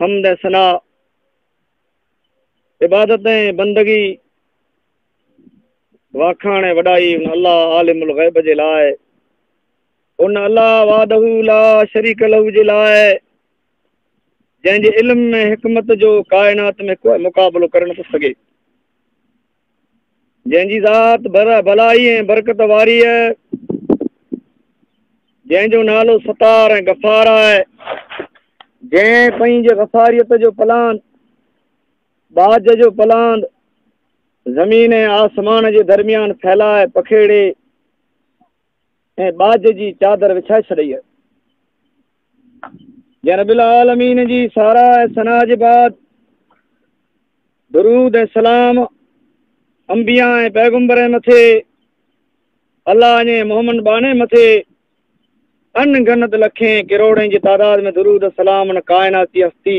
حمد ۽ ثنا عبادت ۽ بندگي واکاڻ ۽ وڏائي ان الله عالم الغيب جي لاء ان الله وعده لا شريڪ له جي لاء جنهن جي علم ۽ حڪمت جو ڪائنات ۾ ڪو مقابلو ڪري نٿو سگهي جنهن جي ذات بر ۽ بلائي ۽ برڪت واري آهي جنهن جو نالو ستار ۽ غفار آهي جنهن پنهنجي غفاريت جو پلان باج جو پلان زمين ۽ آسمان جي درميان ڦيلائي پکيڙي ۽ ٻاجهه جي چادر وڇائي ڇڏئي ۽ جي رب العالمين جي ساراهه ۽ ثنا جي بعد درود ۽ سلام انبياء ۽ پيغمبر مٿي الله جي محمد باني مٿي ان گنت لکين ڪروڙين جي تعداد ۾ درود سلام ان ڪائناتي هستي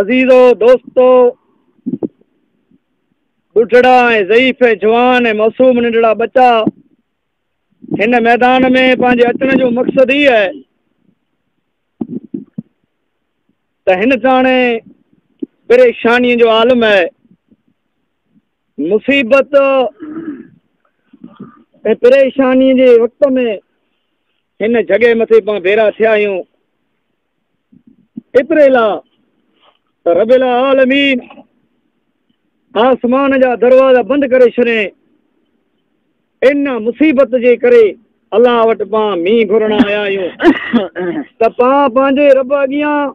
عزيزو، دوستو، ٻڍڙا ۽ ضعيف ۽ جوان ۽ معصوم ننڍڙا ٻچا هن ميدان ۾ پنهنجي اچڻ جو مقصد هي آهي ته هن ساڻي پريشاني جو عالم آهي مصيبت ۽ پريشاني جي وقت ۾ هن جڳهه مٿي پان ڀيرا ٿيا آهيون ايتري لاء ته رب العالمين آسمان جا دروازا بند ڪري ڇڏين ان مصيبت جي ڪري الله وٽ پان مينهن گهرڻ آيا آهيون ته پان پنهنجي رب اڳيان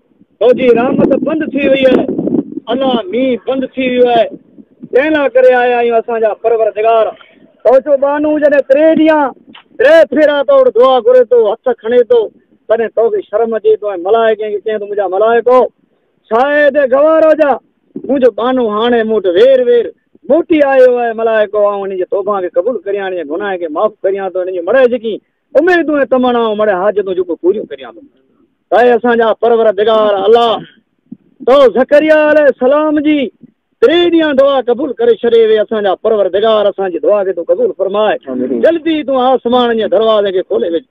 تو جي رحمت بند ٿي وئي آهي الله مينهن بند ٿي ويو آهي تنهن لا ڪري آيا آهيون اسان جا پروردگار تو جو ٻانهو جڏهن ٽي ڏينهن ٽي ڦيرا تو وٽ دعا گهري ٿو هٿ کڻي ٿو تڏهن تو کي شرم اچي تو ۽ ملائڪن کي چئين ٿو منهنجا ملائڪو ڇا اهي هتي گوار هجا منهنجو ٻانهو هاڻي مون وٽ وير وير موٽي آيو آهي ملائڪو آئون هن جي توبان کي قبول ڪريان هن جي گناهن کي معاف ڪريان ٿو هن جي مڙهه جيڪي اميدون ۽ تمنائون مڙئي حاجتون جيڪو پوريون ڪريان ٿو اي اسان جا پرورردگار الله تو زڪريا عليه السلام جي ٽي ڏينهن دعا قبول ڪري ڇڏي وي اسان جا پرورردگار اسان جي دعا کي تون قبول فرماء جلدي تون آسمان جي دروازي کي کولي وج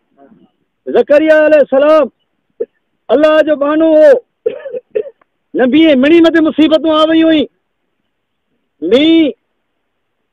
زڪريا عليه السلام الله جو بانو هو نبي مڙي مٿي مصيبتون آ ويون هئي مي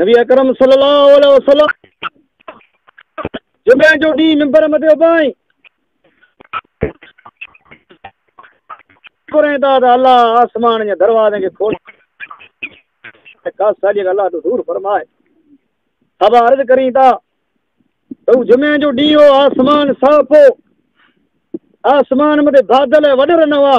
نبي اڪرم صلي الله عليه وسلم جمعي جو ڏينهن ممبر مٿي اڀائين ڪرين ٿا ته الله آسمان جي دروازن کي کول خاص ساجي الله تو دور فرمائے اب عرض ڪرين ٿا ته جمعي جو ڏينهن هو آسمان صاف هو آسمان مٿي بادل وڏر نه هئا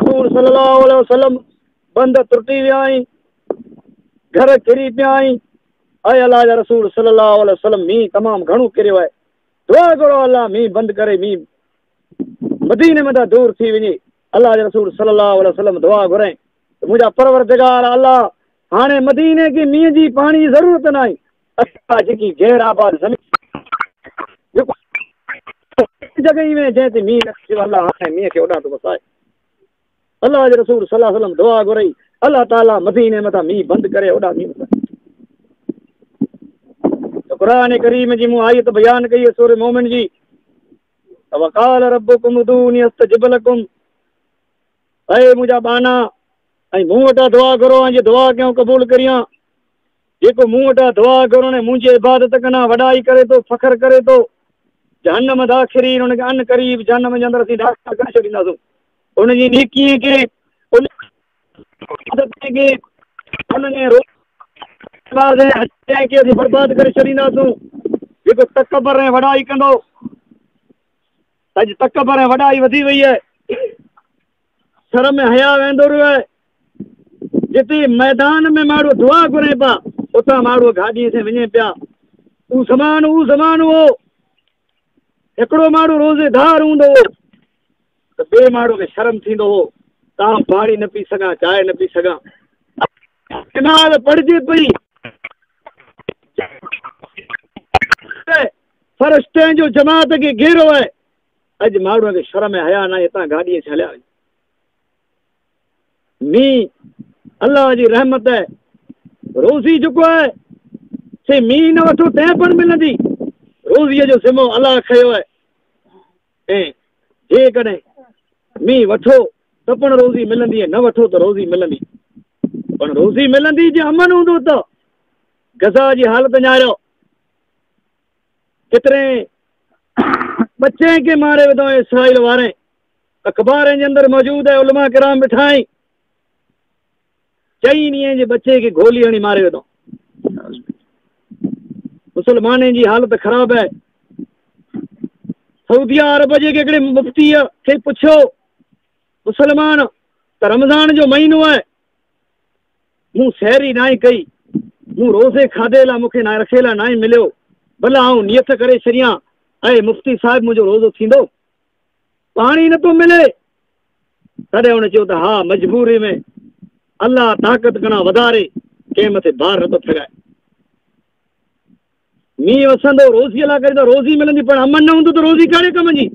حضور صلي الله عليه وسلم بند ترٽي ويا آهن گهر ڪري پيا آهن اي الله جا رسول صلي الله عليه وسلم مين تمام گهڻو ڪريو آهي دعا گهرو الله مين بند ڪري مين مدينه ۾ ته دور ٿي وڃي الله جا رسول صلي الله عليه وسلم دعا گهرائين منهنجا پروردگار الله هاڻي مدينه کي مينهن جي پاڻي جي ضرورت ناهي اها جيڪي غير آباد زمين جيڪو اهڙي جڳهه ۾ جنهن تي مينهن نه ٿيو الله هاڻي مينهن کي اوڏانهن ٿو وسائي الله جي رسول صلي الله عليه وسلم دعا گهرئي الله تعالي مدينه مٿان مينهن بند ڪري اوڏا مينهن وسائي قرآن کريم جي مون آيت بيان ڪئي آهي سوري مومن جي وقال ربكم ادعوني استجب لكم اي مجا بانا اي مون وٽا دعا ڪرو ان جي دعا ڪيو قبول ڪريان جيڪو مون وٽان دعا گهرڻ ۽ منهنجي عبادت ڪن آ وڏائي ڪري ٿو، فخر ڪري ٿو، جهنم داخرين، ان کي عن قريب جهنم جي اندر اسين داخل ڪري ڇڏينداسون. ان جي نيڪي ۽ ڪي ان عبادت ۽ ڪي ان ۾ روز نماز ۽ حج ۽ ڪي اسين برباد ڪري ڇڏينداسون. جيڪو تڪبر ۽ وڏائي ڪندو، اڄ تڪبر ۽ وڏائي وڌي وئي آهي. سر ۾ حياء ويندو رهيو آهي. جتي ميدان ۾ ماڻهو دعا گهرين پيا، اتان ماڻهو گاڏيء سين وڃين پيا. اهو زمان اهو زمان هو، هڪڙو ماڻهو روزي دار هوندو هو ته ٻئي ماڻهو کي شرم ٿيندو هو ته آئون پاڻي نه پي سگهان، چانهه نه پي سگهان. نماز پڙهجي پئي. فرشتن جو جماعت کي گهيرو آهي. اڄ ماڙهوء کي شرم ۽ حياء ناهي اتان گاڏي اچي هليا وڃن. مينهن الله جي رحمت آهي روزي جيڪو آهي سي مينهن نه وٺو تنهن پڻ ملندي روزيء جو ذمو الله کيو آهي ۽ جيڪڏهن مينهن وٺو ته پڻ روزي ملندي ۽ نه وٺو ته روزي ملندي پڻ روزي ملندي جي امن هوندو ته غزا جي حالت نياريو ڪيترين ٻچين کي ماري وڌو ۽ اسرائيل وارين اخبارين جي اندر موجود ۽ علماء ڪرام بٺائين چئين ڏينهن جي ٻچي کي گولي هڻي ماري وڌو مسلمانين جي حالت خراب آهي سعودي عرب جي هڪڙي مفتي کي پڇيو مسلمان ته رمضان جو مهينو آهي مون سحر ئي ناهي ڪئي، مون روزي کاڌي لا مونکي ناهي رکي لا ناهي مليو، ڀلا آئون نيت ڪري ڇڏيان، اي مفتي صاحب منهنجو روزو ٿيندو؟ پاڻي نه ٿو ملي؟ تڏهن هن چيو ته ها مجبوري ۾ الله طاقت کڻان وڌاري ڪنهن مٿي بار نه ٿو ڦيرائي. مينهن وسندو، روزيء لاء ڪري ته روزي ملندي، پر امن نه هوندو ته روزي ڪهڙي ڪم جي؟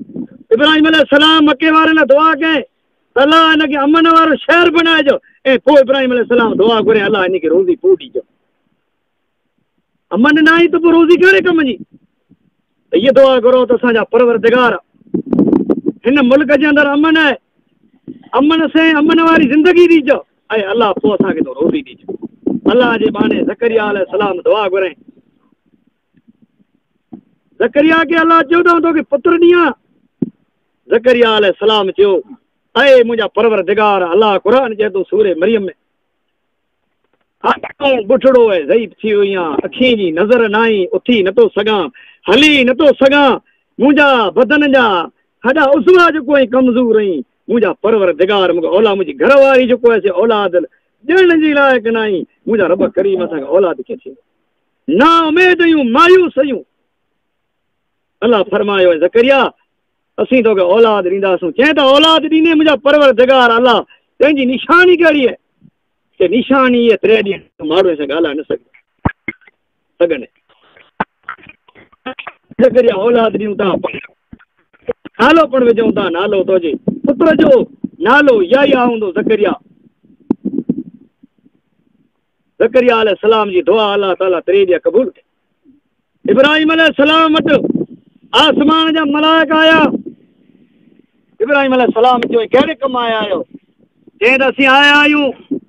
ابراهيم عليه السلام مڪي وارن لاء دعا ڪئي ته الله هن کي امن وارو شهر بڻائجو ۽ پوء ابراهيم عليه السلام دعا گهري الله هن کي روزي پوء ڏجو. امن ناهي ته پوء روزي ڪهڙي ڪم جي؟ ته هيء دعا گهرو ته اسان جا پروردگار هن ملڪ جي اندر امن آهي، امن سين امن واري زندگي ڏجو. اي الله پوء اسان کي تون روزي ڏج. الله جي ٻانهي زڪريا عليه السلام دعا گهرائين. زڪريا کي الله چيو ته آئون توکي پتر ڏيان. زڪريا عليه السلام چيو اي منهنجا پروردگار الله قرآن چئي ٿو سوري مريم ۾ آئون بٺڙو ۽ ضعيف ٿي وئي آهيان اکين جي نظر نه آئي اٿي نٿو سگهان هلي نٿو سگهان منهنجا بدن جا هڏا عضوا جو ڪوئي ڪمزور ۽ منهنجا پرورردگار مونکي اولاد منهنجي گهر واري جيڪو آهي سي اولاد ڏيڻ جي لائق ناهي منهنجا رب ڪريم اسان کي اولاد ڪيئن ٿي نا اميديون مايوسيون الله فرمايو اي زڪريا اسين توکي اولاد ڏينداسون چئين ته اولاد ڏيندين منهنجا پرورردگار الله تنهنجي نشاني ڪهڙي آهي نشاني ٽي ڏينهن ماڻهو سان ڳالهائي نه سگهي سگهن. زڪريا اولاد ڏيون ٿا پاڻ نالو پڻ وجهون ٿا نالو تنهنجي پٽ جو نالو يايا هوندو زڪريا زڪريا عليه السلام جي دعا الله تعالي تري ڏيا قبول ڪي ابراهيم عليه السلام وٽ آسمان جا ملائڪ آيا ابراهيم عليه السلام چيو هي ڪهڙي ڪم آيا آهيو؟ چيائين ته اسين آيا آهيون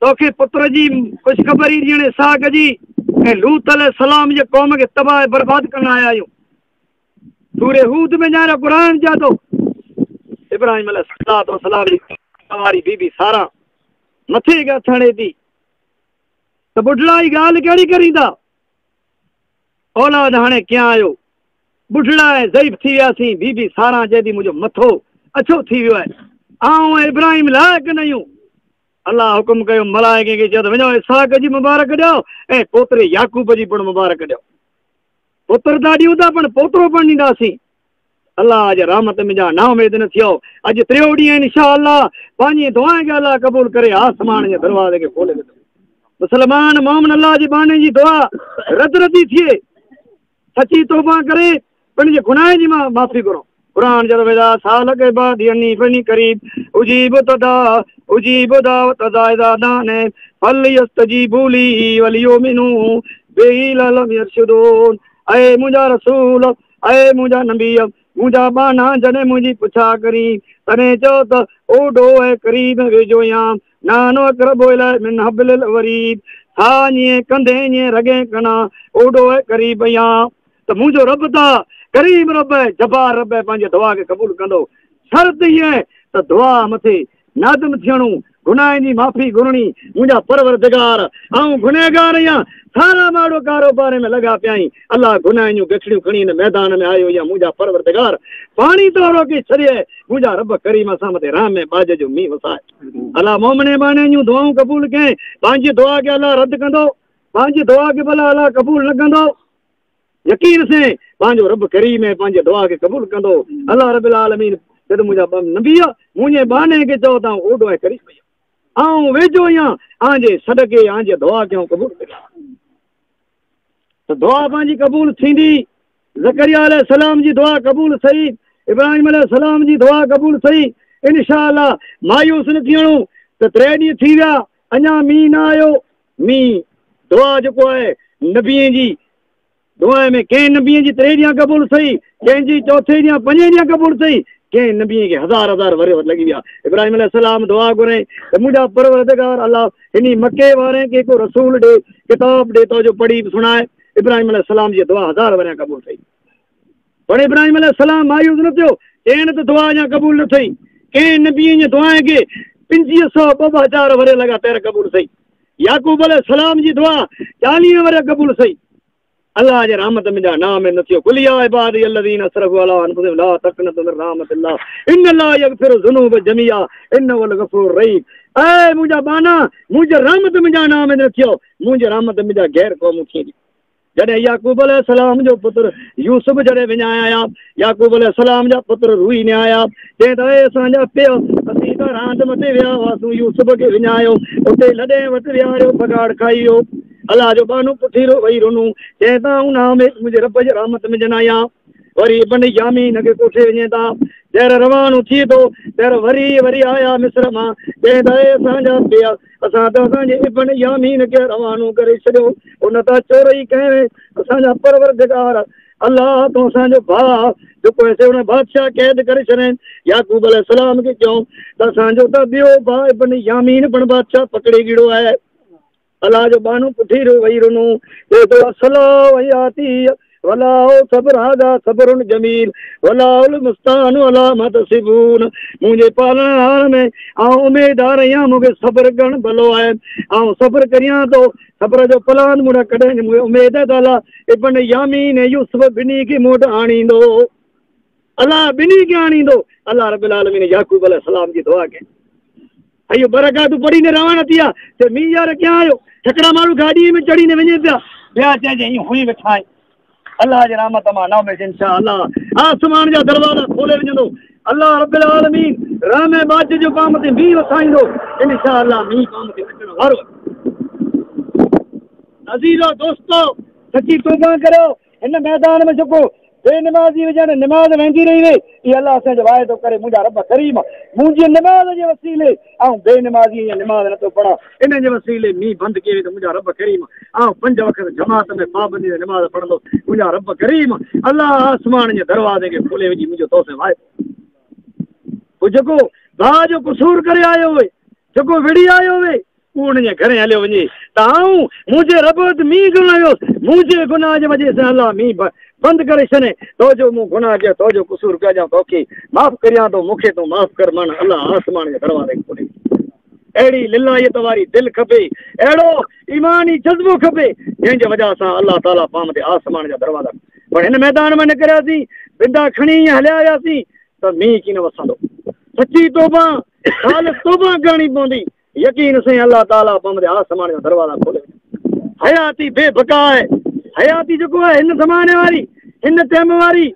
توکي پٽ جي خوشخبري ڏيڻ اسحاق جي ۽ لوط عليه السلام جي قوم کي تباهه ۽ برباد ڪرڻ آيا آهيون سورة هود ۾ ڄاڻايو قرآن چئي ٿو ابراهيم عليه السلام جي ڪنواري بي بي سارا مٿي ڳاٿ هڻي ٿي ته ٻڍڙا هي ڳالهه ڪهڙي ڪرين ٿا اولاد هاڻي ڪيئن آهيو؟ ٻڍڙا ۽ ضعيف ٿي وياسين، بي بي ساران جي به منهنجو مٿو اڇو ٿي ويو آهي، آئون ۽ ابراهيم لائق نه اهيون. الله حڪم ڪيو، ملائڪين کي چيو ته وڃو اسحاق جي مبارڪ ڏيو ۽ پوتري يعقوب جي پڻ مبارڪ ڏيو. پٽ ته ڏيون ٿا پڻ پوترو پڻ ڏينداسين. الله جي رحمت ۾ ڄڻ نااميد نه ٿيو. اڄ ٽيون ڏينهن ان شاء الله پنهنجي دعائن کي الله قبول ڪري آسمان جي دروازي کي کولي وڌو. مسلمان مومن الله جي ٻانهن جي دعا رد ردي ٿئي سچي توبه ڪري پن جي گناهن جي معافي گهرو. قرآن جدو اذا سالک عبادي عني فني قريب اجيب تدا اجيب دعوت اذا اذا دان فليستجيبوا لي وليؤمنوا به لعلهم يرشدون اي منجا رسول اي منهنجا نبيء! منهنجا ٻانها جڏهن منهنجي پڇا ڪرين، تڏهن چئو ته، او ڏوهه ۽ قريب ۽ ويجهو يا، نحن اقرب اليه من حبل الوريد، ڇا اڃين ڪنڌين ۽ رڳين کنا، او ڏوهه ۽ قريب ۽ يا؟ ته منهنجو رب ته ڪريم رب ۽ جبار رب ۽ پنهنجي دعا کي قبول ڪندو، شرط هيء ته دعا مٿي نادم ٿيڻو، گناهن جي معافي گهرڻي، منهنجا پروردگار! آئون گنهگار آهيان، سارا ماڙو ڪاروباري ۾ لڳا پيا آهين، الله گناهن جون گچڙيون کڻي هن ميدان ۾ آيو يا منهنجا پروردگار! پاڻي تون روڪي ڇڏيئه، منهنجا رب ڪريم اسان مٿي رحم ۽ ٻاجهه جو مينهن وساء. الله مومن ۽ مؤمنائن جون دعائون قبول ڪئين، پنهنجي دعا کي الله رد ڪندو؟ پنهنجي دعا کي ڀلا الله قبول نه ڪندو؟ يقين سين پنهنجو رب ڪريم ۽ پنهنجي دعا کي قبول ڪندو الله رب العالمين جد منهنجا ٻه نبي منهنجي ٻانهي کي چئو ته آئون اوڏو ۽ قريب آهيان آئون ويجهو آهيان آئون جي صدقي آئون جي دعا کي آئون قبول ڪريان ته دعا پنهنجي قبول ٿيندي ذڪريا عليه السلام جي دعا قبول ٿي ابراهيم عليه السلام جي دعا قبول ٿي انشاء الله مايوس نه ٿيڻو ته ٽي ڏينهن ٿي ويا اڃا مينهن نه آيو ۾ دعا جيڪو آهي نبين جي دعا ۾ ڪنهن نبين جي ٽي ڏينهن قبول ٿئي ڪنهن جي چوٿين ڏينهن پنجين ڏينهن قبول ٿئي ڪنهن نبين کي هزار هزار ورهيه لڳي ويا ابراهيم عليه السلام دعا گهري ته منهنجا پروردگار الله هن مڪي وارن کي ڪو رسول ڏي ڪتاب ڏي تو جو پڙهي سڻائي ابراهيم عليه السلام جي دعا هزار ورهيه قبول ٿئي پر ابراهيم عليه السلام مايوس نه ٿيو، چيائين ته دعا اڃا قبول نه ٿئي، ڪنهن نبيء جي دعائن کي پنجيهه سؤ ٻه ٻه هزار ورهيه لڳاتار قبول ٿئي، يعقوب عليه السلام جي دعا چاليهه ورهيه قبول ٿئي، الله جي رحمت ۾ ڄڻ نااميد نه ٿيو، قل يا عبادي الذين اسرفوا علي انفسهم لا تقنطوا من رحمت الله ان الله يغفر الذنوب جميعا انه هو الغفور الرحيم اي منهنجا ٻانها منهنجي رحمت ۾ ڄڻ نااميد نه ٿيو، منهنجي رحمت ۾ ڄڻ غير قومون ٿينديون. جڏهن يعقوب عليه السلام جو پٽ يوسف جڏهن وڃايا آيا، يعقوب عليه السلام جا پٽ روئي نهايا، چين ته اي اسان جا پيء! اسين ته راند مٽي ويا هئاسون، يوسف کي وڃايو، اتي لڏين وٽ ويهاريو، پگهاڙ کائي ويو. الله جو ٻانهو پٺيرو وئي رنو، چين ته آئون نااميد منهنجي رب جي رحمت ۾ ڄنايان. وري ابن يامين کي ڪوٺي وڃين ٿا. ٻيهر روانو ٿئي ٿو. ٻيهر وري وري آيا مصر مان. چين ٿا، اي اسان جا پيء! اسان ته اسان جي ابن يامين کي روانو ڪري ڇڏيو. ان تان چورئي ڪئي هئي. اسان جا پروردگار! الله تون اسان جو ڀاء جو ڪو هيسي ان بادشاهه قيد ڪري ڇڏين. يعقوب عليه السلام کي چيائون ته اسان جو ته ٻيو ڀاء ابن يامين پڻ بادشاهه پڪڙي گهڙو آهي. الله جو ٻانهو پٺي رو وئي رنو اي تو اصلا وئي آتي ولا او صبر هادا صبر جميل ولا اول مستان ولا متصبون منهنجي پالڻ هار ۾ آئون اميدار آهيان مونکي صبر گڻ بلو آهي آئون صبر ڪريان تو صبر جو پلان مون ڪڏهن نه مونکي اميد آهي تعالا ابن يامين ۽ يوسف بني کي موٽ آڻيندو الله بني کي آڻيندو الله رب العالمين يعقوب عليه السلام جي دعا کي اهي ٻه رڪعتون پڙهي نه روانا ٿيا ته مينهن يار اڳيان آيو، هڪڙا ماڻهو گاڏيء ۾ چڙهي نه وڃين پيا، ٻيا چين جو ائين هئي ويٺا آهيون، الله جي رحمت مان نه اميد، انشاء الله آسمان جا دروازا کولي وجهندو، الله رب العالمين رحم ۽ ٻاجهه جو قوم تي مينهن وسائيندو، انشاء الله مينهن قوم تي اچڻ وارو آهي. عزيزو دوستو! سچي توبه ڪريو. هن ميدان ۾ جيڪو بي نمازي هجي ۽ نماز وهندي رهي وئي، اي الله اسان جو واعدو ڪري منهنجا رب ڪريم، منهنجي نماز جي وسيلي آئون بي نمازي ۽ نماز نه ٿو پڙهان، ان جي وسيلي مينهن بند ڪيئي وئي ته منهنجا رب ڪريم، آئون پنج وقت جماعت ۾ پابندي سان نماز پڙهندس، منهنجا رب ڪريم، الله آسمان جي دروازي کي کولي وجهي منهنجو تو سان واعدو ڪري. پوء جيڪو ڀاء جو قصور ڪري آيو هئي، جيڪو وڙهي آيو هئي، هو انهن جي گهرين هليو وڃي ته آئون منهنجي رب وٽ مينهن گهرڻ آيو هوس. منهنجي گناهه جي وجهه سان الله مينهن بند ڪري ڇڏين تو جو مون گناهه ڪيو تو جو قصور ڪيو ڄڻ توکي معاف ڪريان ٿو مون کي تون معاف ڪر معنيٰ الله آسمان جي دروازي کي کولي ڇڏي. اهڙي للاحيت واري دل کپي، اهڙو ايماني جذبو کپي، جنهن جي وجهه سان الله تعاليٰ پام تي آسمان جا دروازا پر هن ميدان مان نڪرياسين بندا کڻي ائين هليا وياسين ته مينهن ڪين وسندو سچي توبه خالص توبه ڪرڻي پوندي يقين سين الله تعاليٰ پنب جا آسمان جا دروازا کولي وڃن. حياتي بي بقا آهي. حياتي جيڪو آهي هن زماني واري، هن ٽيم واري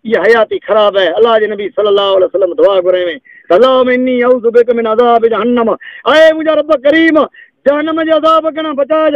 اها حياتي خراب آهي. الله جي نبي صلّي اللّٰه عليه وسلّم دعا گهرائي هئي ته اللّٰهمّ انّي اعوذ بڪ من عذاب جهنّم اي منهنجا ربّ ڪريم جهنّم جي عذاب کان بچائج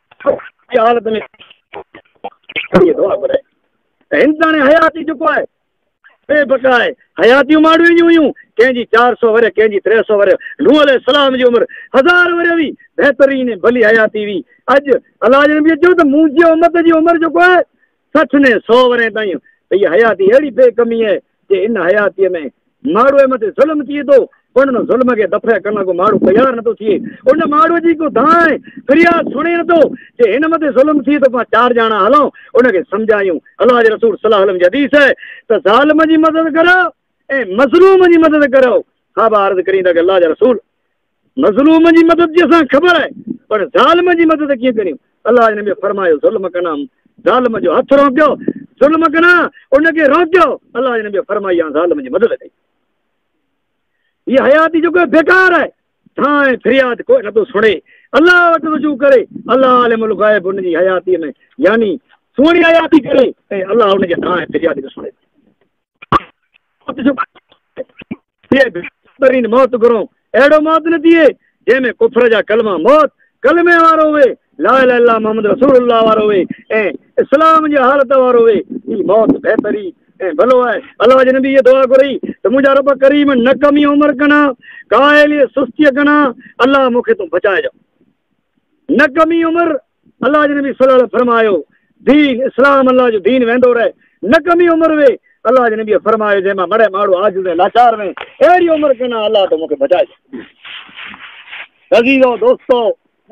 حالت ۾ ٿي ٿو پر هندستاني حياتي جيڪو آهي بي بقا آهي حياتيون ماڻهو جون هيون ڪنهن جي چار سو ورهيه ڪنهن جي ٽي سو ورهيه نوح عليه السلام جي عمر هزار ورهيه هئي بهترين ڀلي حياتي هئي اڄ الله جي نبي چيو ته منهنجي امت جي عمر جيڪو آهي سٺ نين سو ورهين تائين ته هيء حياتي اهڙي بي ڪمي آهي جي ان حياتيء ۾ ماڻهوء مٿي ظلم ٿئي ٿو پر ان ظلم کي دفع ڪرڻ لاء ڪو ماڻهو تيار نٿو ٿئي. ان ماڻهوء جي ڪو دانهن ۽ فرياد سڻي نٿو. جي هن مٿي ظلم ٿئي ٿو پاڻ چار ڄاڻا هلون ان کي سمجهايون. الله جي رسول صلّي الله عليه وسلّم جي حديث آهي ته ظالم جي مدد ڪريو ۽ مظلوم جي مدد ڪريو. صحابه عرض ڪرين ٿا ڪي الله جا رسول! مظلوم جي مدد جي اسان کي خبر آهي پر ظالم جي مدد ڪيئن ڪريون الله جي نبي فرمايو ظلم ڪنا ظالم جو هٿ روڪيو ظلم ڪنا ان کي روڪيو الله جي نبي فرمائي يا ظالم جي مدد ڪئي هي حياتي جو ڪو بيڪار آهي ٿان فرياد ڪو نه ٿو سڻي الله وٽ رجوع ڪري الله عالم الغيب ان جي حياتي ۾ يعني سوڻي حياتي ڪري ۽ الله ان جي ٿان فرياد ٿو سڻي ٿئي بهترين موت گهرون اهڙو موت نه ٿئي جنهن ۾ ڪفر جا ڪلما موت ڪلمي وارو هئي لا اله الا محمد رسول الله وارو هئي ۽ اسلام جي حالت وارو هئي هي موت بهترين ۽ ڀلو آهي الله جي نبي هيء دعا گهري ته منهنجا رب ڪريم نڪمي عمر ڪنا ڪاهلي سستيء ڪنا الله مون کي تون بچائجان. نه ڪمي عمر، الله جي نبي صلي الله عليه وسلم فرمايو، دين، اسلام، الله جو دين ويندو رهي، نه ڪمي عمر وي، الله جي نبي فرمايو، جنهن مان مڙهي ماڙهو عاجز ۽ لاچار وين، اهڙي عمر ڪنا الله تو مون کي بچائي ڇڏ. عزيزو دوستو!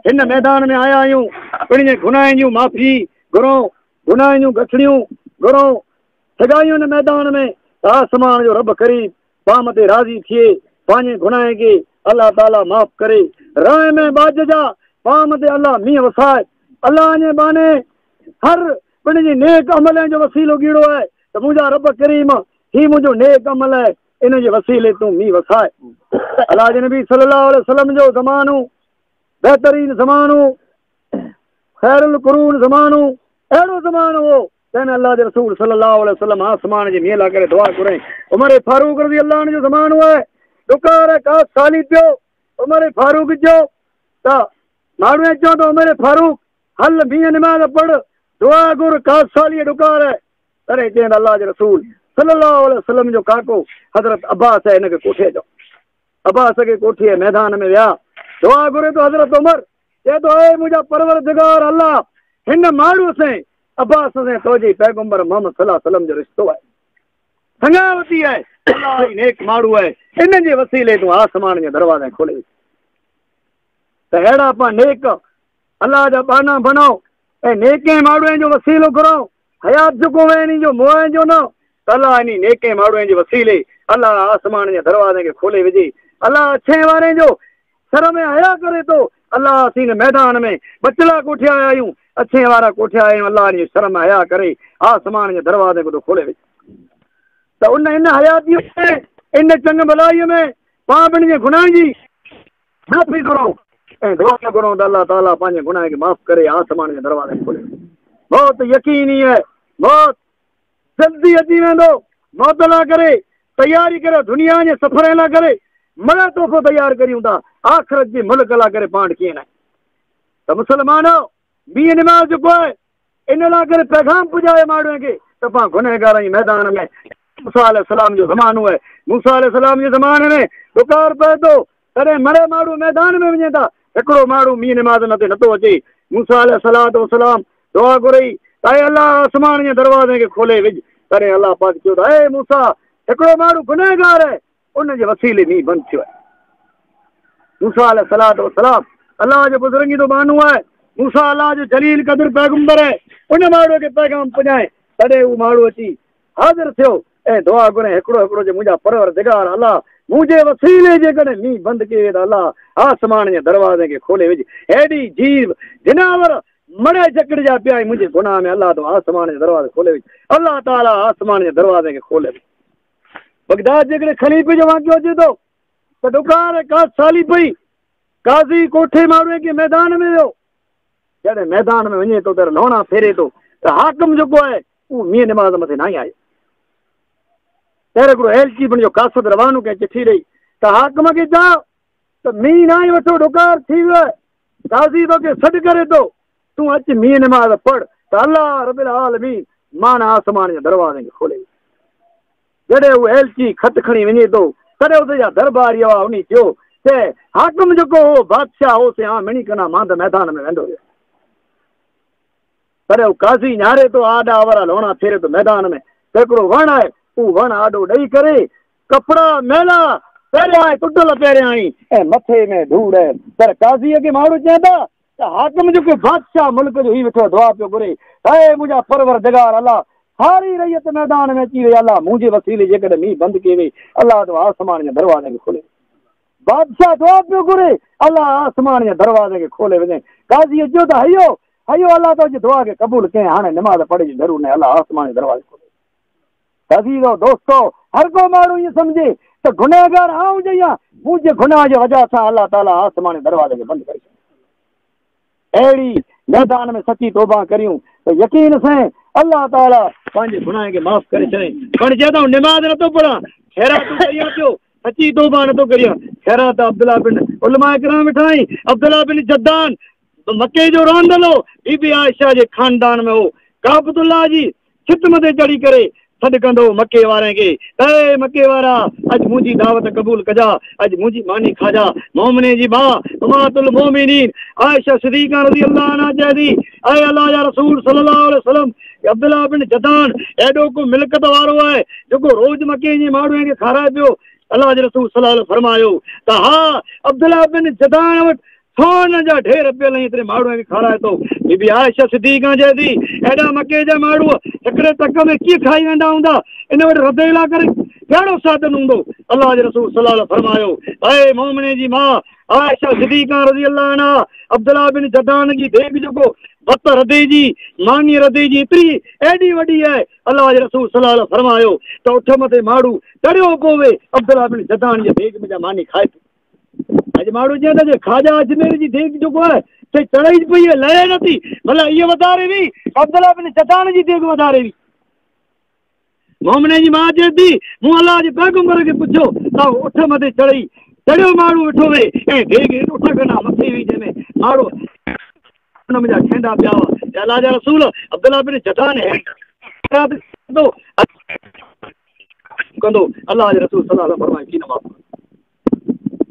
هن ميدان ۾ آيا آهيون، پڻهين گناهن جون معافي گهرون، گناهن جون ڳٺڙيون گهرون، سگهايون هن ميدان ۾، ته آسمان جو رب قريب، ڪام تي راضي ٿئي پنهنجي گناهن کي الله تعالي معاف ڪري رانء ۾ ٻاجهه جا ڪام تي الله مينهن وسائي الله جي ٻانهي هر پڻ جي نيڪ عملين جو وسيلو ڳيڙو آهي ته منهنجا رب ڪريم هي منهنجو نيڪ عمل آهي ان جي وسيلي تون مينهن وسائي الله جي نبي صلي الله عليه وسلم جو زمانو بهترين زمانو خير القرون زمانو اهڙو زمانو هو تنهن الله جي رسول صلي الله عليه وسلم آسمان جي مينهن لاء ڪري دعا گهرائين. عمر فاروق رضي الله عنه جو زمانو آهي. ڏڪار ڪا سالي پيو عمر فاروق جو ته ماڻهو ائين چون ته عمر فاروق هل مينهن نماز پڙهه دعا گهر ڪا سالي ڏڪار آهي. تڏهن چين الله جي رسول صلي الله عليه وسلم جو ڪاڪو حضرت عباس هن کي ڪوٺي اچو. عباس کي ڪوٺي ميدان ۾ ويا دعا گهري ته حضرت عمر چئي ٿو، اي منهنجا پروردگار الله! هن ماڻهوء سين، عباس سين، تو جي پيغمبر محمد صلّي الله عليه وسلّم جو رشتو آهي. سڱاوتي آهي. الله ئي نيڪ ماڻهو آهي. ان جي وسيلي تون آسمان جا دروازا کولي وڇ ته اهڙا پان نيڪ الله جا ٻانها بڻاء ۽ نيڪين ماڻهوئن جو وسيلو گهرائو. حيات جوکون ويڻي جو موئن جو نه ته الله انهي نيڪين ماڙهوئين جي وسيلي الله آسمان جي دروازين کي کولي وجهي الله اڇين وارين جو سر ۾ حيا ڪري ٿو الله اسين هن ميدان ۾ ٻچڙا ڪوٺيا آهيون اڇين وارا ڪوٺيا آهيون الله انهي سر ۾ حيا ڪري آسمان جي دروازين ڪو ٿو کولي وجهي ته ان ان حياتي ۾ ان چڱ ڀلائي ۾ پاپن جي گناهن جي معافي گهرو ۽ دعا گهرو ته الله تعاليٰ پنهنجي گناهن کي معاف ڪري آسمان جا دروازا کي کولي ڏي. موت يقيني آهي. موت جلدي اچي ويندو. موت لا ڪري تياري ڪريو. دنيا جي سفرين لا ڪري مڙا تحفو تيار ڪريون ٿا. آخرت جي ملڪ لا ڪري پاڻ ڪيئن ناهي ته مسلمانو مينهن نماز جو ڪو آهي. ان لاء ڪري پيغام پڄايو ماڻهن کي ته پان گنهگارن جي ميدان ۾ موسيٰ عليه السلام جو زمانو آهي، موسيٰ عليه السلام جي زماني ۾ ڏڪار پئي ٿو، تڏهن مري ماڻهو ميدان ۾ وڃين ٿا، هڪڙو ماڻهو مينهن نماز مٿي نٿو اچي، موسيٰ عليه السلام دعا گهري ته اي الله آسمان جي دروازن کي کولي وجهه، تڏهن الله پاڪ چيو ته اي موسيٰ هڪڙو ماڻهو گنهگار آهي، ان جي وسيلي مينهن بند ٿيو آهي. موسيٰ عليه الصلوة والسلام الله جو بزرگيء جو بانو آهي. موسيٰ الله جو جليل قدر پيغمبر آهي. ان ماڻهوء کي پيغام پڄائين. تڏهن هو ماڻهو اچي حاضر ٿيو ۽ دعا گهريائين هڪڙو هڪڙو جو منهنجا پروردگار الله! مون جي وسيلي جيڪڏهن مينهن بند ڪيئي ته الله آسمان جي دروازن کي کولي وجهه. هيڏي جيو جناور مڙهي جڪڙجيا پيا آهن منهنجي گناهه ۾ الله تون آسمان جا دروازا کولي وجهه. الله تعاليٰ آسمان جي دروازن کي کولي وجهه. بغداد جيڪڏهن خليفي جو واقعو اچي ٿو ته ڏڪار ڪاس سالي پئي. قاضي ڪوٺي مان اڙي ڪنهن ميدان ۾ ويو. جڏهن ميدان ۾ وڃي ٿو ته لهڻا ڦيري ٿو ته حاڪم جيڪو آهي اهو مينهن نماز مٿي ناهي آيو. پهرين هڪڙو ايلچي بڻيو قاصد روانو ڪنهن چٺي ڏئي ته حاڪم کي چاء ته مينهن ناهي وٺو ڏڪار ٿي ويو آهي. قاضي توکي سڏ ڪري ٿو، تون اچ مينهن نماز پڙهه ته الله رب العالمين مان آسمان جي دروازن کي کولي ڇڏي. جڏهن هو ايلچي خط کڻي وڃي ٿو، تڏهن اتي جا درباري اها اوني ٿيو ته حاڪم جيڪو هو بادشاهه هو سي هان ميڻي ڪنا مانڌ ميدان ۾ ويندو رهيو. تڏهن هو قاضي نهاري ٿو، آڏا اورا لوڻا ڦيري ٿو ميدان ۾ ته هڪڙو وڻ آهي، اهو وڻ آڏو ڏئي ڪري ڪپڙا ميلا پهريا ۽ ٽٽل پهريائين ۽ مٿي ۾ ڌوڙ. پر قاضي اڳي ماڻهو چين ٿا ته حاڪم جو ڪو بادشاهه ملڪ جو هي ويٺو دعا پيو گهري، هي منهنجا پروردگار الله! ساري رعيت ميدان ۾ اچي وئي الله منهنجي وسيلي جيڪڏهن مينهن بند ڪئي وئي الله تو آسمان جا دروازا به کولي وڃ. بادشاهه دعا پيو گهري الله آسمان جا دروازا کي کولي وڃي. قاضي چيو ته هيو هيو الله تو جي دعا کي قبول ڪئين هاڻي نماز پڙهي جو ضرور ناهي الله آسمان جا دروازا کولي وڃي. عزيزو دوستو! هرڪو ماڻهو ائين سمجهي ته گنهگار آئون جيان، منهنجي گناهه جي وجهه سان الله تعاليٰ آسماني دروازي کي بند ڪري ڇڏيو. اهڙي ميدان ۾ سچي توبه ڪريون ته يقين سين الله تعاليٰ پنهنجي گناهن کي معاف ڪري ڇڏين. پڻ جي آئون نماز نٿو پڙهان، خيراتون ڪريان پيو، سچي توبه نٿو ڪريان، خيرات ته عبدالله بن، علماء ڪرام ويٺا آهن، عبدالله بن جدعان، مڪي جو رهندل هو، بي بي عائشه جي خاندان ۾ هو، ڪعبة الله جي ستم تي چڙهي ڪري سڏ ڪندو هو مڪي وارن کي، اي مڪي وارا! اڄ منهنجي دعوت قبول ڪجا، اڄ منهنجي ماني کاجا. مومنين جي ماء امهات المومنين عائشه صديقه رضي الله عنها چئي ٿي، اي الله جا رسول صلي الله عليه وسلم! عبدالله بن جدعان اهڙو ڪو ملڪت وارو آهي، جيڪو روز مڪي جي ماڻهن کي کارائي پيو؟ الله جي رسول صلي الله عليه وسلم فرمايو ته ها، عبدالله بن جدعان وٽ سونهن جا ڍير پيل ۽ ايتري ماڙوء کي کارائي ٿو. بي بي عائشه صديقه جي ڌي، ايڏا مڪي جا ماڙوء هڪڙي ٽڪ ۾ ڪيئن کائي ويندا هوندا؟ ان وٽ رڌيلا ڪري ڪهڙو سادن هوندو؟ الله جي رسول صلي الله عليه فرمايو، اي مومنين جي ماء عائشه صديقه رضي الله عنها، عبدالله بن جدعان جي ديڳ جيڪو بت رڌي جي ماني رڌي جي ايتري ايڏي وڏي آهي، الله جي رسول صلي الله عليه فرمايو ته اٺ مٿي ماڙو تڙيو پوي عبدالله بن جدعان جي ديڳ ۾ جا ماني کائي ٿو. اڄ ماڻهو جيئن ته خواجا اجميري جي ديڳ جيڪو آهي سي چڙهي ئي پئي لهي نه ٿي ڀلا هيء وڌاري وي عبدالله بن جدان جي ديڳ وڌاري وي مومني جي ماء چئي ٿي مون الله جي پيغمبر کي پڇيو ته اٺ مٿي چڙهي چڙهيو ماڻهو ويٺو وي ۽ ديڳ اٺ کنا مٿي وي جنهن ۾ ماڻهو ان ۾ جا کيندا پيا هئا الله جا رسول عبدالله بن جدان هي ڪندو الله جي رسول صلي الله فرمائي ٿي نه معاف ڪندو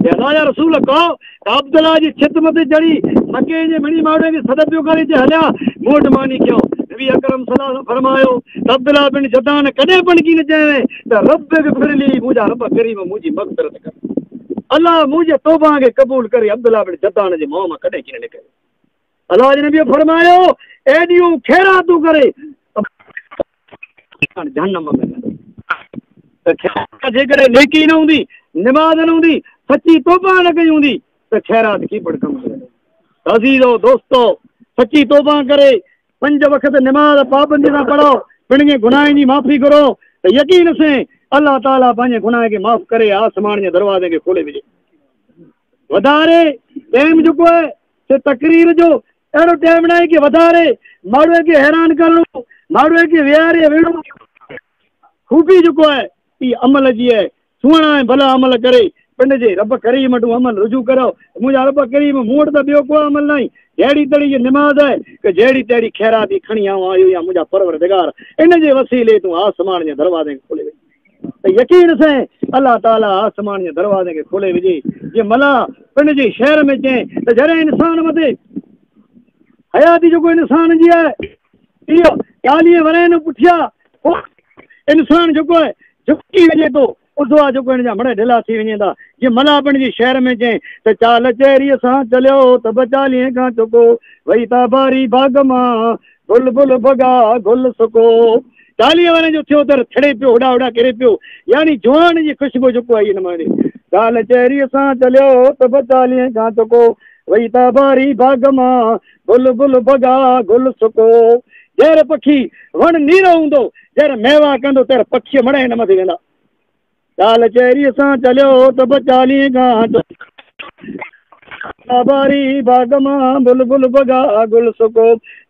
اي الله جا رسول ڪا عبدالله جي ڇت مٿي چڙي مڪي جي مڙي ماڙي کي سڏ پيو ڪري تي هليا موٽ ماني کيو نبي اڪرم صلي الله فرمايو عبدالله بن جدان ڪڏهن پنڪي نه چيو ته رب به پھر لي مونجا رب کريم مونجي مغفرت ڪر الله مونجي توبه کي قبول ڪري عبدالله بن جدان جي مون مان ڪڏهن ڪين نڪري الله جي نبيء فرمايو، ايڏيون خيراتون ڪري ته جهنم ۾ ويندو. ته خيرات جيڪڏهن نيڪي نه هوندي، نماز نه هوندي، سچي توبه نه ڪئي هوندي ته خيرات ڪي پڻ ڪم نه ايندو. ته عزيزو، دوستو! سچي توبه ڪري پنج وقت نماز پابندي سان پڙهو، پنهنجي گناهن جي معافي گهرو ته يقين سين الله تعاليٰ پنهنجي گناهن کي معاف ڪري آسمان جي دروازن کي کولي وجهي. وڌاري ٽيم جيڪو آهي سي تقرير جو اهڙو ٽيم ناهي ڪي وڌاري ماڙهوء کي حيران ڪرڻو ماڙهوء کي ويهاري ويهڙو خوبي جيڪو آهي اي عمل جي آهي سهڻا ۽ ڀلا عمل ڪري پنڊ جي رب ڪريم وٽ عمل رجوع ڪريو ته منهنجا رب ڪريم مون وٽ ته ٻيو ڪو عمل ناهي جهڙي تڙي جي نماز آهي ڪه جهڙي تهڙي خيراتي کڻي آئون آيو يا منهنجا پرور دگار ان جي وسيلي تون آسمان جي دروازين کولي وڃ. ته يقين سين الله تعالي آسمان جي دروازي کي کولي وجهي جي ملاح پنڊ جي شهر ۾ چين ته جڏهن انسان مٿي حياتي جيڪو انسان جي آهي اهو چاليهه ورهين نو پٺيا انسان جيڪو آهي جھڪي وجهي ٿو ادوا جيڪو هن جا مڙهه ڍلا ٿي وڃين ٿا جي ملاح پنڊ جي شهر ۾ چين ته چال چهري سان چليو ته به چاليهه کان چڪو وئي تا باري باغ مان بلبل بگا گل سڪو چاليهه ورهين جو ٿيو در ٿڙي پيو هوڏا هوڏا ڪري پيو يعني جوان جي خوشبو جڪو آئي هن مهڻي گال چهري سان چليو ته به چاليهين کان چڪو وئي تا باري باغ مان بلبل بگا گل سڪو جهر پکي وڻ نيرو هوندو جهر ميوا ڪندو تهر پکي مڙهي نه مٿي ويندا. ٽال چهري سان چليو ته به چاليهه گهانٽ باري باغ مان بلبل بگا گل سڪو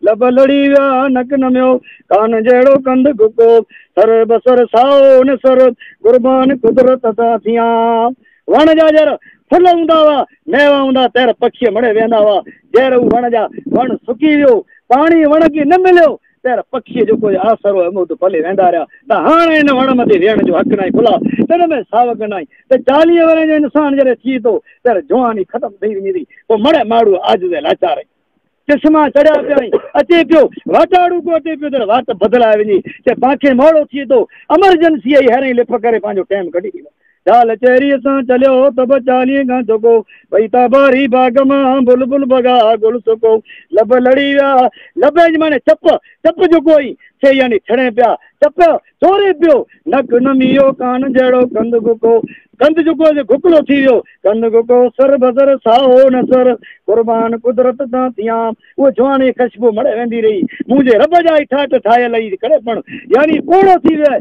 لب لڙي ويا نڪ نميو ڪان جهڙو ڪنڌ گڪو سر بسر سائو نسر قربان قدرت تان ٿيان وڻ جا جر ڦل هوندا هئا ميوا هوندا تير پکي مڙي ويندا هئا جهر هو وڻ جا وڻ سڪي ويو پاڻي وڻ کي نه مليو تير پکيء جو ڪوئي آسرو هيم اڌ پلي ويندا رهيا ته هاڻ ان وڻ مٿي ويهڻ جو حق ناهي ڀلا تن ۾ ساوڪ ناهي ته چاليهه ورهين جو انسان جڏهن ٿئي ٿو تير جواني ختم ٿئي وڃي ٿي پوء مڙهه ماڙهو عاجز ۽ لاچار ۽ چشما چڙهيا پيا ۽ اچي پيو واٽاڙو ڪو اچي پيو تير واٽ بدلائي وڃي ته پاکي مهڙو ٿئي ٿو امرجنسيء جي هيرئين لڦ ڪري پنهنجو ٽيم ڪڍي ڏيندو ٽال چهريء سان چليو ته به چاليهن کان جهڪو پئي ته باري باغ مان بلبل بگا گل سڪو لب لڙي ويا لبي جي معني چپ چپ جهڪو اي سي يعني ڇڙين پيا چپ چوري پيو نڪ نميو ڪان جهڙو ڪنڌ گهڪو ڪنڌ جهڪو سي گهڪلو ٿي ويو ڪنڌ گهڪو سر بسر سائو نه سر قربان قدرت تان ٿيان اهو جواني کشبو مڙئي ويندي رهي منهنجي رب جا اي ٺاٺ ٺاهيل اي ڪڙي پڻ يعني پوڙهو ٿي ويئي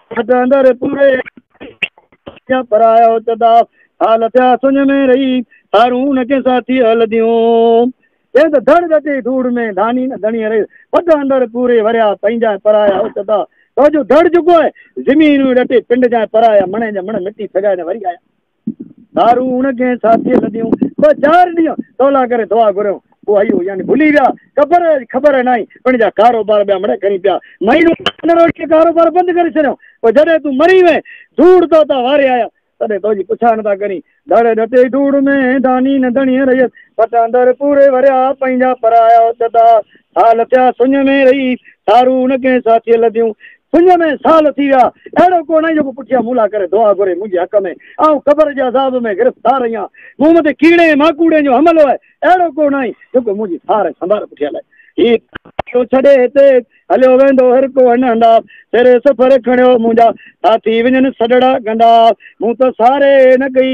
ٿڌ اندر پوري ڪيا پرايا او تدا حال ٿيا سڃ ۾ رهي هارون کي ساٿي هل ديون جي ته ڌڙ ڏٽي ڌوڙ ۾ ڌاني نه ڌڻي رهي ٿڌ اندر پوري وريا پنهنجا پرايا او تدا تو جو ڌڙ جڪو آهي زمين ڏٽي پنڊ جا پرايا مڻي جا مڻ مٽي ڦڳائي نه وري آيا ڌارون اڻ ڪنهن ساٿيء لڏيون، ٻه چار ڏينهن سولا ڪري دعا گهريون، پوء هيء يعني ڀلي ويا، قبر جي خبر ناهي، پڻ جا ڪاروبار ٻيا مڙهي کرين پيا، مهينو ان روٽيء ڪاروبار بند ڪري ڇڏيو، پوء جڏهن تون مري وئين، ڌوڙ تو تان واري آيا، تڏهن تو جي پڇا نٿا ڪرين، ڌڙ ڌتي ڌوڙ ۾، داني نه ڌڻيء رهيس، پٽاندر پوري وريا، پنهنجا پرايا اٿتا، ساهه لٿيا سڃ ۾ رهي سارو نه ڪنهن ساٿيء لڌيون. سڃ ۾ ساهه لٿي ويا. اهڙو ڪو ناهي جيڪو پٺيان مون لاء ڪري دعا گهري منهنجي حق ۾. آئون قبر جي عذاب ۾ گرفتار رهيان. مون مٿي ڪيڙي ۽ ماڪوڙين جو حملو آهي. اهڙو ڪو ناهي جيڪو منهنجي سار ۽ سنڀال پٺيان لائي. هي ٿو ڇڏي هتي هليو ويندو هر ڪو هن هندا. سر سفر کڻيو منهنجا ساٿي وڃن سڏڙا ڪندا. مون ته ساري نه ڪئي.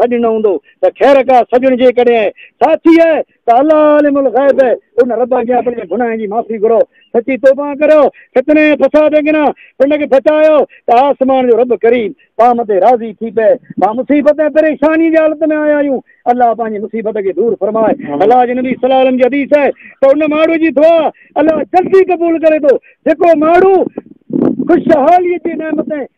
سڏ نه هوندو ته خير ڪا سڄڻ جيڪڏهن ساٿي آهي ته الله عالم الغيب ان رب اڳيان اپنجي گناهن جي معافي گهرو سچي توبان ڪريو فتني ۽ فساد اڳنا پنڊ کي بچايو ته آسمان جو رب ڪريم پام تي راضي ٿي پئي پا مصيبت ۽ پريشاني جي حالت ۾ آيا آهيون الله پنهنجي مصيبت کي دور فرمائي الله جي نبي صلي علم جي حديث آهي ته ان ماڻهو جي دعا الله جلدي قبول ڪري ٿو جيڪو ماڻهو خوشحالي جي نعمتين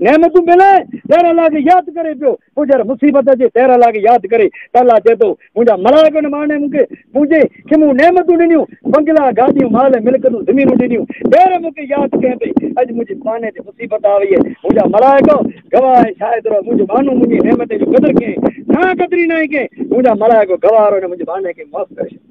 نعمتون ملي ته الله کي ياد ڪري پيو، پوء جڏهن مصيبت اچي ته الله کي ياد ڪري ته الله چئي ٿو منهنجا ملائڪ ان معني مون کي منهنجي کي مون نعمتون ڏنيون، بنگلا، گاڏيون، مال، ملڪتون، زمينون ڏنيون ته مون کي ياد ڪئين ٿي، اڄ منهنجي معني تي مصيبت آ وئي، منهنجا ملائڪ گواهه ۽ شاهد رهو منهنجي معني منهنجي نعمتين جو قدر ڪيائين، نه قدري ناهي ڪئين، منهنجا ملائڪ گواهه رهو هن منهنجي معني کي معاف ڪري ڇڏيو.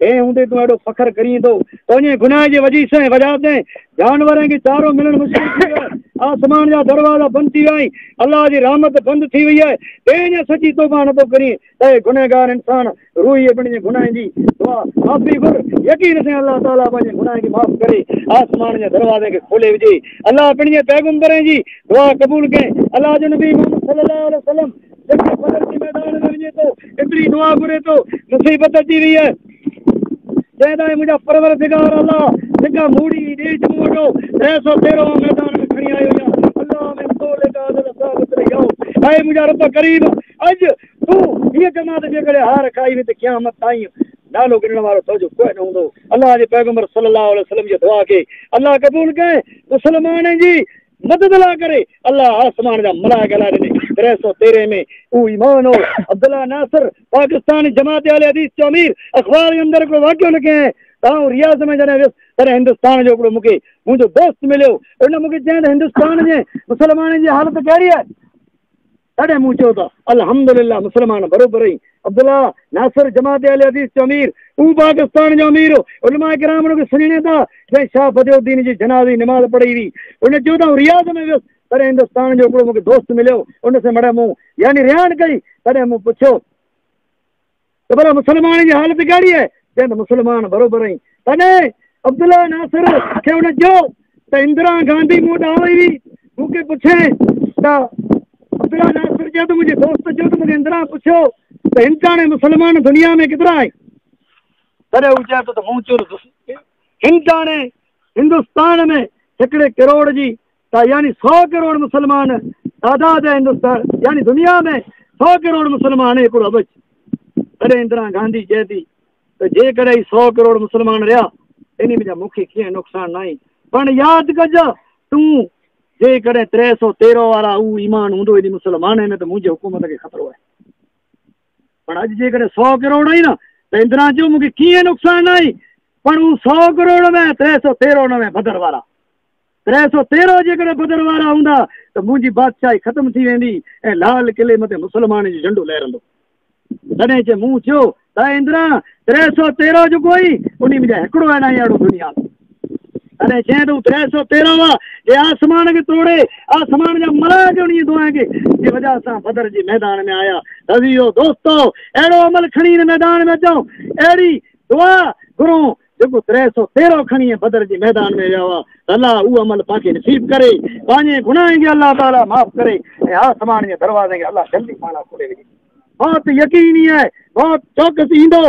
تنهن هوندي تون اهڙو فخر ڪرين ٿو؟ تنهنجي گناهه جي وجيس ۽ وجهه تي جانورن کي چارو ملڻ مشڪل ٿي ويو آهي. آسمان جا دروازا بند ٿي ويا آهن. الله جي رحمت بند ٿي وئي آهي. تنهن جا سچي توبه نه ٿو ڪرين ته اي گنهگار انسان! روئي ۽ پنهنجي گناهن جي دعا، معافي، گهر. يقين سان الله تعاليٰ پنهنجي گناهن کي معاف ڪري آسمان جي دروازن کي کولي وجهي. الله پنهنجي پيغمبرن جي دعا قبول ڪئي. الله جو نبي محمد صلي الله عليه وسلم! جيڪي فضل جي ميدان ۾ وڃي ٿو ايتري دعا گهري ٿو مصيبت اچي وئي آهي جنهن لاء منهنجا پروردگار الله جيڪا موڙي ڏيج موڙو ٽي سو تيرهون ميدان ۾ کڻي آيو يا الله ۾ تو لي ڪا عدل ثابت رهي آؤ اي منهنجا رب ڪريم اڄ تون هي جماعت جيڪڏهن هار کائي ويندي قيامت تائين نالو گنڻ وارو تو جو ڪوئي نه هوندو الله جي پيغمبر صلي الله عليه وسلم جي دعا کي الله قبول ڪئي مسلمانن جي مدد لاء ڪري، الله آسمان جا ملائڪ هلائي ڏني، تري سؤ تيرنهن ۾ اهو ايمان هو، عبدالله ناصر، پاڪستان جماعت اهل حديث جو امير، اخبار جي اندر هڪڙو واقعو لکي ۽ ته آئون رياض ۾ جڏهن ويس، تڏهن هندستان جو هڪڙو مون کي منهنجو دوست مليو، ان مون کي چيائين ته هندستان جي مسلمانن جي حالت ڪهڙي آهي؟ تڏهن مون چيو ته الحمدلله مسلمان بروبر ۽ عبدالله ناصر جماعت اهل حديث جو امير تون پاڪستان جو امير هو علماء ڪرام ان کي سڃاڻين ٿا جنهن شاهه بديع الدين جي جنازي جي نماز پڙهي هئي ان چيو ته آئون رياض ۾ ويس تڏهن هندستان جو هڪڙو مون کي دوست مليو ان سان مڙئي مون يعني رهاڻ ڪئي تڏهن مون پڇيو ته ڀلا مسلمانن جي حالت ڪهڙي آهي؟ چيائين ته مسلمان بروبر آهين. تڏهن عبدالله ناصر کي هن چيو ته اندرا گانڌي مون وٽ آئي هئي، مون کي پڇيائين ته عبدالله ناصر چيو ته منهنجي دوست چيو ته مون کي اندرا پڇيو ته هندستان ۽ مسلمان دنيا ۾ ڪيترا آهن؟ تڏهن هو چئي ٿو ته مون چيو ته هندستان ۾ هڪڙي ڪروڙ جي ته يعني سؤ ڪروڙ مسلمان تعداد ۽ هندستان يعني دنيا ۾ سؤ ڪروڙ مسلمان هي هڪڙو ابج تڏهن اندرا گانڌي چئي ٿي ته جيڪڏهن هي سؤ ڪروڙ مسلمان رهيا انهي ۾ جا مون کي ڪيئن نقصان ناهي پڻ ياد ڪج تون جيڪڏهن ٽي سؤ تيرهن وارا هو ايمان هوندو انهي مسلمان ۾ ته منهنجي حڪومت کي خطرو آهي پڻ اڄ جيڪڏهن سؤ ڪروڙ آهي نه ته اندرا چيو مون کي ڪيئن نقصان ناهي پڻ هو سؤ ڪروڙ ۾ ٽي سؤ تيرهن ۾ بدر وارا ترهه سؤ تيرهن جيڪڏهن بدر وارا هوندا ته منهنجي بادشاهي ختم ٿي ويندي ۽ لال قلعي مٿي مسلمانن جو جهنڊو لهرندو. تڏهن چي مون چيو ته اي اندرا! ترهه سؤ تيرهن جو ڪوئي انهي ۾ جا هڪڙو اهڙا ۽ اهڙو دنيا ۾. تڏهن چيائين ته هو ترهه سؤ تيرهن هئا جي آسمان کي توڙي آسمان جا ملائڪ انهي دعائن کي جي وجهه سان بدر جي ميدان ۾ آيا ته اي دوستو! اهڙو عمل کڻي هن ميدان ۾ اچون اهڙي دعا گهرون جيڪو تري سو تيرهن کڻي بدر جي ميدان ۾ ويا هئا ته الله اهو عمل پان کي نصيب ڪري پنهنجي گناهن کي الله تعالي معاف ڪري ۽ آسمان جي دروازن کي الله جلدي پاڻ لاء کولي وجهي. موت يقيني آهي، موت چوڪس ايندو،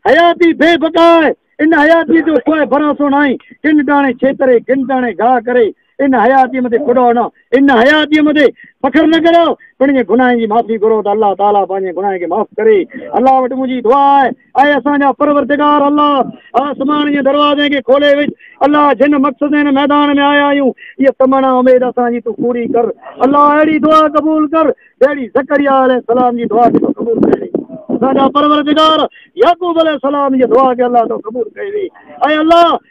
حياتي بي بقا آهي، ان حياتيء جو ڪوئي ڀروسو ناهي، ڪن ٽاڻي ڇيتري، ڪن ٽاڻي گاهه ڪري، ان حياتيء مٿي ڪڏاء نه، ان حياتيء مٿي فخر نه ڪريو، پڻ انهن گناهن جي معافي گهرو ته الله تعاليٰ پنهنجي گناهن کي معاف ڪري. الله وٽ منهنجي دعا آهي، اي اسان جا پروردگار الله! آسمان جي دروازن کي کولي وجهه. الله! جنھن مقصد ۽ هن ميدان ۾ آيا آهيون، اها تمنا اميد اسان جي تون پوري ڪر. الله! اهڙي دعا قبول ڪر، جهڙي زڪريا عليه السلام جي دعا کي تو قبول ڪيو ويئي. اسان جا پروردگار! يعقوب عليه السلام جي دعا کي الله تو قبول ڪيو ويئي. اي الله!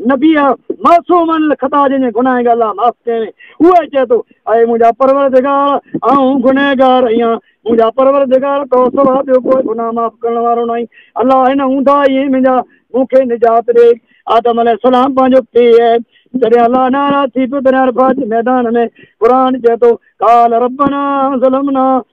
نبيء معصوم عن الخطا جنهن جي گناهن کي الله معاف ڪيائين، اهو ئي چئي ٿو، اي منهنجا پروردگار! آئون گنهگار آهيان، منهنجا پروردگار! تو سوا ٻيو ڪو گناهه معاف ڪرڻ وارو ناهي، الله هن اونداهي ۽ منهنجا مون کي نجات ڏي. آدم عليه السلام پنهنجو پيء جڏهن الله ناراض ٿي پيو تڏهن عرفات جي ميدان ۾ قرآن چئي ٿو، قال ربنا ظلمنا.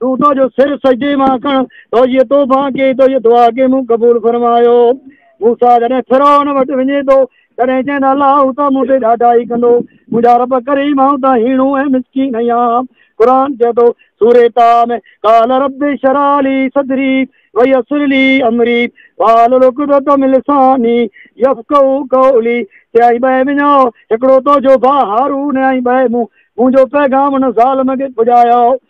تون اسان جو سر سجدي مان کڻ، توجي توبان ڪي، توجي دعا کي مون قبول فرمايو. موسيٰ جڏهن فرعون وٽ وڃي ٿو، تڏهن چئن ٿا، الله تان مون تي ڏاڍائي ڪندو. منهنجا رب ڪريم، آئون تان هيڻو ۽ مسڪين اهيان. قرآن چئي ٿو، سورة طٰء ۾، قال رب اشرع لي صدري ويسر لي امري واحلل عقدة من لساني يفقهوا قولي چيائين ٻهه وڃاء، هڪڙو تو جو ڀاء هارون ۽ ٻهه مون، منهنجو پيغام ان ظالم کي پڄايو.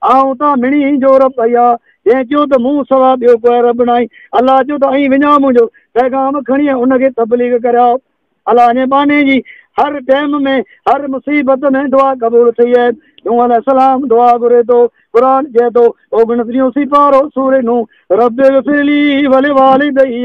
آء اتان مڙي هين جو رب اهي آ، جنهن چيو ته مون سوا ٻيو ڪو رب ناهي، الله چيو ته ائين وڃاء منهنجو پيغام کڻي ۽ ان کي تبليغ ڪراء. الله جي ٻانهي جي هر ٽيم ۾ هر مصيبت ۾ دعا قبول ٿئي آهي. نوح عليه السلام دعا گهري ٿو، قرآن چئي ٿو، اوڳڻٽيهون سيپارو سورة نوح، رب اغفر لي ولوالديّ.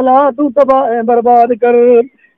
الا تون تباهه ۽ برباد ڪر.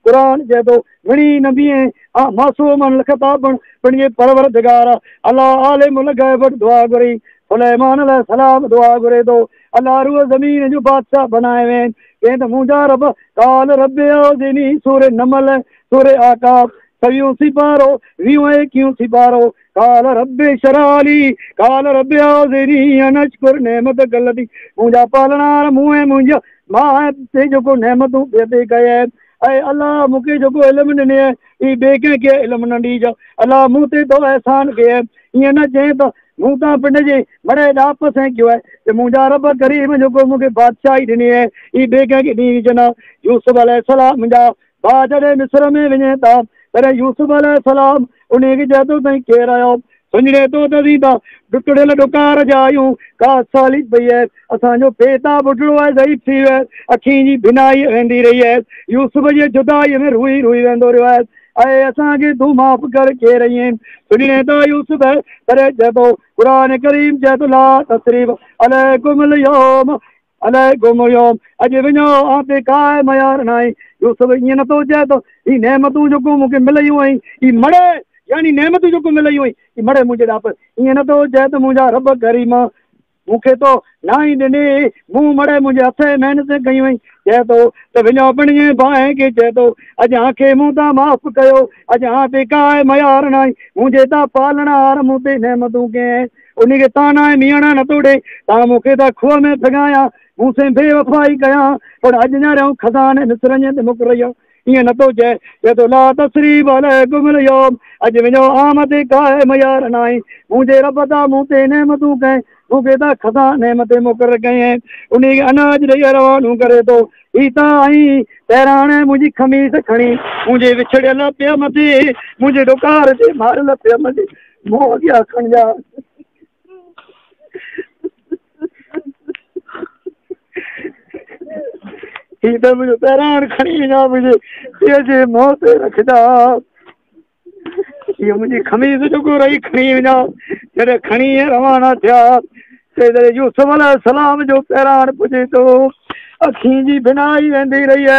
قرآن چئي ٿو، گهڻي نه بيهين، آء معصوم الخطا پڻ پنهنجي پروردگار اعليٰ عالم الغيب وٽ دعا گهري. سليمان عليه السلام دعا گهري ٿو، الا روح زمين جو بادشاهه بنائي وين. چئين ته منهنجا رب! قال رب اوزعني سورة نمل، سورة اعقاف، سويهون سيپارو، ويهون ۽ ايڪيهون سيپارو، قال رب اشرح لي قال رب اعوذني ان اشكر نعمتك التي منهنجا پالڻهار مون ۽ منهنجا ماء تي جيڪو نعمتون پي عطي ڪئي آهن اي الله مون کي جيڪو علم ڏني آهي اي ٻي ڪنهن کي علم نه ڏيج الله مون تي تو احسان ڪئي آهي ائين نه چين ته مون تان پنڊ جي مڙهي ڏاهپ سين ڪيو آهي ته منهنجا رب ڪريم جيڪو مون کي بادشاهي ڏني آهي اي ٻي ڪنهن کي ڏيج نه يوسف عليه السلام جا ڀاء جڏهن مصر ۾ وڃين ٿا تڏهن يوسف عليه السلام انهي کي چئي ٿو تائين ڪير آهيو؟ سڃڻي ٿو ته اسين ته ڊکڙيل ڏڪار جا آهيون، ڪا ساليت پئي آهي، اسان جو پيتا ٻڍڙو ۽ ضعيف ٿي ويو آهي، اکين جي بينائي ويندي رهي آهي، يوسف جي جدائي ۾ روئي روئي ويندو رهيو آهي، اي اسان کي تون معاف ڪر ڪير ايئن سڃڻي ٿا يوسف؟ تڏهن چئي ٿو قرآن ڪريم چئي ٿو لا تثريب عليڪم اليوم، الائي گم هيو اڄ وڃو آن تي ڪا ميار ناهي. يوسف ائين نه ٿو چئي ته هي نعمتون جيڪو مون کي مليون هئين اي مڙهي يعني نعمتون جيڪو مليون هئين اي مڙهي منهنجي ڏا پر ائين نه ٿو چئي ته منهنجا رب ڪريم مون کي تو ناهي ڏني مون مڙهي منهنجي هٿين محنتين ڪيون هئين چئي ٿو ته وڃو پنهنجي ڀانء کي چئي ٿو اڄ آن کي مون تان معاف ڪيو اڄ آن تي ڪا ميار ناهي منهنجي تا پالڻهار مون تي نعمتون ڪئين انهي کي تان آء ميڻا نه توڙي، تان مون کي ٿا کوهه ۾ ڦڳايا، مون سين بي وفائي ڪيا، پڻ اڄ نياريائون خزاني مصر ائين ته مڪريا. ائين نه ٿو چئي، چئي ٿو لا تثريب عليڪم اليوم، اڄ وڃو آمد قائم يار نائين، منهنجي رب ٿا مون تي نعمتون ڪئين، مون کي ٿا خزاني مٿي مقرر ڪيئين، انهي کي اناج ڏيئي روانو ڪري ٿو، هي ٿا آئين، پهراڻي منهنجي خميس کڻي، منهنجي وڇڙيل پيء مٿي، منهنجي ڏڪار جي ماريل پيء مٿي. مون اڳيان اکڻ جا هي ته منهنجو پهراڻ کڻي اڃا منهنجي پيء جي منهن تي رکجا هي منهنجي خميس جو گهر ئي کڻي اڃا جڏهن کڻي روانا ٿيا تي جڏهن يوسف عليه السلام جو پهراڻ پڄي ٿو اکين جي بنائي ويندي رهي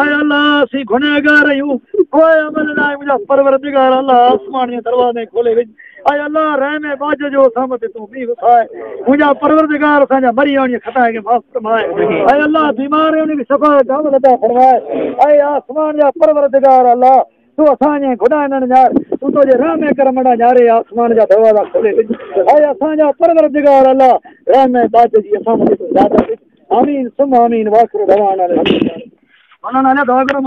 اي الله اسين گنهگار آهيون پوء عمل لاء منهنجا پروردگار الله آسمان جي دروازي کولي وج اي الله رحم ۽ باج جو اسان مٿي تون بي وساء منهنجا پروردگار اسان جا مري آڻي خطا کي معاف فرماء اي الله بيمار آهن انهن کي شفا جامل عطا فرماء اي آسمان جا پروردگار الله سو اسان جنهن خدا هنن نهار تون توجي رحم ۽ ڪرم ڏانهن نهاري آسمان جا دروازا کولي ڏج ته آء اسان جا پروردگار الله رحم ۽ ٻاجهه جي اسان مٿي تون زيادت ڏج آمين ثم آمين واخر دعوانا ان الحمد لله رب مولانا عليا دعا ڪرو.